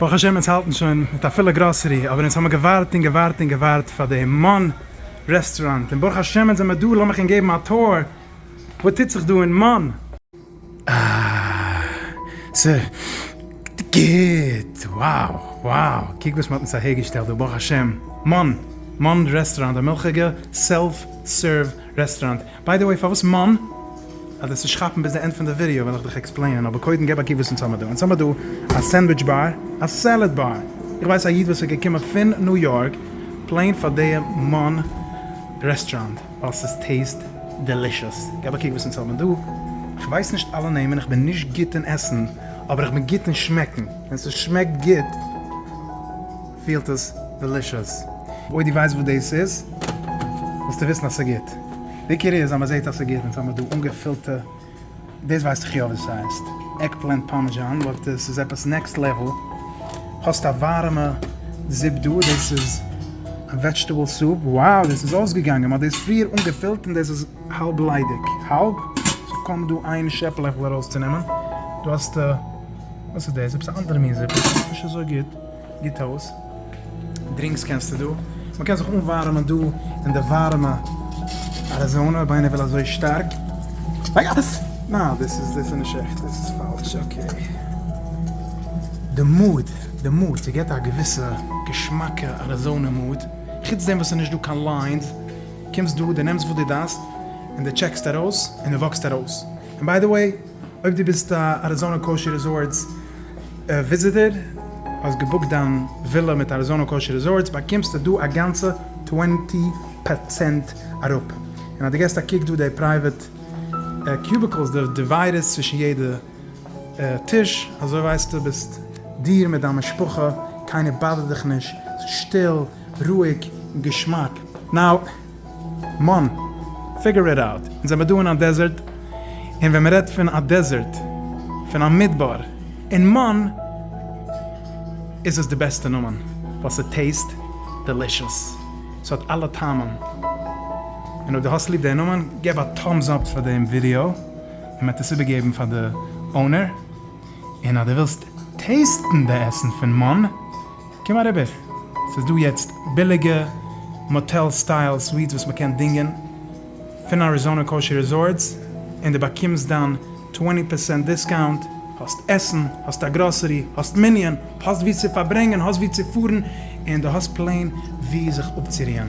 ברוך השם אונז האלטן שוין מיט א פולע גראסערי, אבער אונז האמיר געווארט און געווארט און געווארט פאר די מאן רעסטוראנט, און ברוך השם אונז זעמיר דא, לאמיך אונז געבן א טור וואס טוט זיך דא אין מאן. אה, ס'איז גוט! wow wow, קוק וואס מ'האט אונז אהערגעשטעלט דא, ברוך השם, מאן, מאן רעסטוראנט, א מילכיגע סעלף סערוו רעסטוראנט, ביי די וועי פארוואס מאן? אז דאס נישט כאפן ביז די ענד פון די ווידעא וועל איך דיך עקספלעינען אבער קודם געב א קוק וואס אונז האמער דא, אונז האמער דא א סענדוויטש באר, א סעלעד באר, איך ווייס א איד וואס איז געקומען פון ניו יארק פלעין פאר די מאן רעסטראנט ווייל ס'איז טעיסט דעלישעס, געב א קוק וואס אונז האמער דא, איך ווייס נישט אלע נעמען, איך בין נישט גוט אין עסן אבער איך בין גוט אין שמעקן, ווען ס'שמעקט גוט. פילט עס דעלישעס. אויב דו ווייסט וואס דאס איז וועסטו וויסן אז ס'גוט. די עיקר איז אז מ'זעט אז ס'גוט און ס'האמיר דא אנגעפילטע, דאס ווייס איך יא ווי ס'הייסט, עגפלענט פארמעזשאן באט דאס איז עפעס נעקסט לעוועל. האסט א ווארעמע זופ דא, דאס איז א וועדזשטעבל סופ, וואו דאס איז אויסגעגאנגען, מ'האט דאס פריער אנגעפילט און דאס איז האלב ליידיג, האלב, ס'האט קוים דא איין שעפעלעכל ארויסצונעמען, דא האסטו, וואס איז דאס? עפעס א אנדערע מין זופ, נישט אזוי גוט. גוט אויס. דרינקס קענסטו דא. מען קען זיך אנווארעמען דא אין די ווארעמע אריזאנע אויב איינער וויל אזוי שטארק. ניין דאס איז דאס איז נישט עכט דאס איז פאלש. אקעי. די מוד די מוד ס'געט א געוויסע געשמאקע אריזאנע מוד. חוץ דעם וואס ס'איז נישט דא קיין ליינס. קומסט דא די נעמסט וואס די דארפסט און די טשעקסט ארויס און די וואקסט ארויס. און ביי די וועי. אויב דו ביסט א אריזאנא קאושי ריזארטס וויזיטער, האסט געבוקט דיין ווילא מיט אריזאנא קאושי ריזארטס, באקומסטו דא א גאנצע טווענטי פארצענט אראפ, און אז דו געסט א קוק דא די פרייוועט קיוביקלס, די דיוויידערס צווישן יעדע טיש, אזוי ווייסטו ביסט דיר מיט דיין משפחה, קיינער באדערט דיך נישט, ס'איז שטיל, רואיג, און געשמאק. נאו. מאן, פיגור איט אוט. אונז זעמער דא אין א דעזערט, און ווען מ'רעדט פון א דעזערט, פון א מדבר, און מאן איז עס די בעסטע נאמען, ווייל ס'טעיסט דעלישעס, ס'האט אלע טעמים. און אויב דו האסט ליב די נאמען, געב א טאמס אפ פאר דעם ווידיאו, און מ'עט עס איבערגעבן פאר די אונער. און אז דו ווילסט טעיסטן די עסן פון מאן. קום אריבער, ס'איז דא יעצט ביליגע מאטעל סטייל סוויטס וואס מ'קען דינגען פון אריזאנא קאושער ריזארטס, און די באקומסט דיין טווענטי פערסענט דיסקאונט, האסט עסן, האסט א גראסערי, האסט מנין, האסט וואו צו פארברענגען, האסט וואו צו פארן, און דו האסט פלעין וואו זיך אפצורוען.